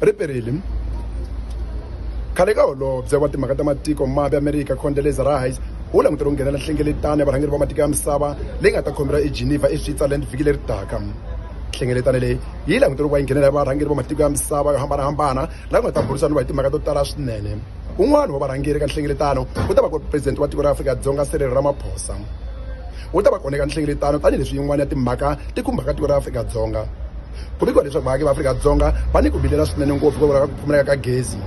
ri perile khale ka holobye wa timhaka ta matiko mambe amerika condeleza rice wu langutele ku nghenela nhlengeletano ya varhangeri va matiko ya misava leyi nga ta khomeriwa egeneva eswitzerland vhiki leri taka nhlengeletano leyi yi langutele ku va yi nghenela ya varhangeri va matiko ya misava yo hambanahambana la ku nga ta burisana va hi timhaka to tala swinene un'wana wa varhangeri ka nhlengeletano wu ta va ku ri president wa tiko ra afrika dzonga serero ramaphosa wu ta va kona eka nhlengeletano tanihileswi yin'wana ya timhaka ti khumbaka tiko ra afrika dzonga ku vikiwa leswaku vaaki va afrika-dzonga va ni ku vilela swinene ngopfu hikokwalaho ka ku pfumaleka ka gezi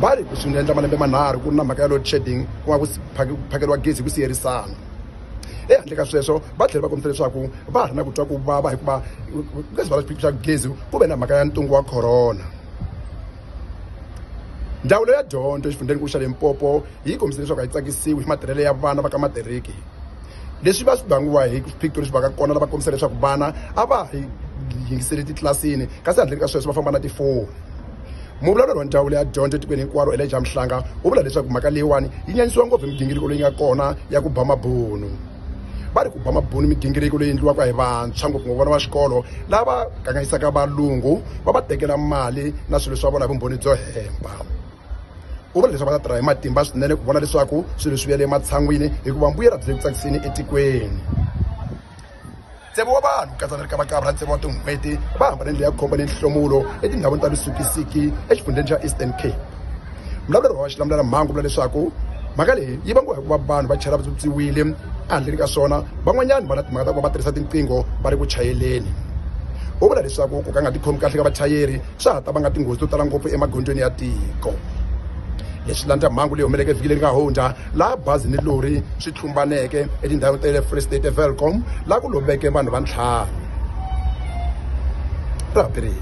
va ri swi nga endla malembe manharhu ku ri na mhaka ya load shedding ku nga ku phakeriwa gezi hi ku siyerisana ehandle ka sweswo va tlhela va kombisa leswaku va ha ri na ku twa ku vava hikuva ka swivala swiphiqo swa gezi ku ve na mhaka ya ntungu wa corona ndzawulo ya dyondzo exifundzheni ku xa limpopo yi kombise leswaku a yi tsakisiwi hi matirhelo ya vana va ka matiriki leswi va swi vangiwa hi swiphiqo leswi va ka kona lava kombisa leswaku vana a va hi yingiseli titlilasini kasi handleni ka sweswo va famba na tifoni muvulavuleri wa ndzawulo ya dyondzo etikweni hinkwaro eleja mhlanga wu vula leswaku mhaka leyiwani yi nyanyisiwa ngopfu hi migingiriko leyi nga kona ya ku ba mabunu va ri ku ba mabunu migingiriko leyi endliwaka hi vantshwa ngopfungopfu vana va xikolo lava kanganyisaka valungu va va tekela mali na swilo swa vona hi vumbhoni byo hemba u vula leswaku va ta tirha hi matimba swinene ku vona leswaku swilo swi vuyele ematshan'wini hikuva mbuyelo byi le ku tsakiseni etikweni ntsevu wa vanhu katsa ni ri ka vakavra ntsevu wa tin'hweti va hambane ndlela ya khomba ni nhlomulo etindhawini ta lusukisiki exifundzheni xa eastern cape mbulavuleri wa xilamulelamhangu vula leswaku mhaka leyi yi vangiwa hikuva vanhu va chela vatswotswiwile ehandleni ka swona van'wanyana va na timhaka ta ku va va tirhisa tinqingho va ri ku chayeleni u vula leswaku ku ka nga tikhomi kahle ka vachayeri swa ha ta vanga tinghozi to tala ngopfu emagondzweni ya tiko leswi landza mhangu leyi humeleke vhiki leri nga hundza laha bazi ni lori swi tlhumbaneke etindhawini ta le free state evelcom laha ku loveke vanhu va ntlhanu ra ha perile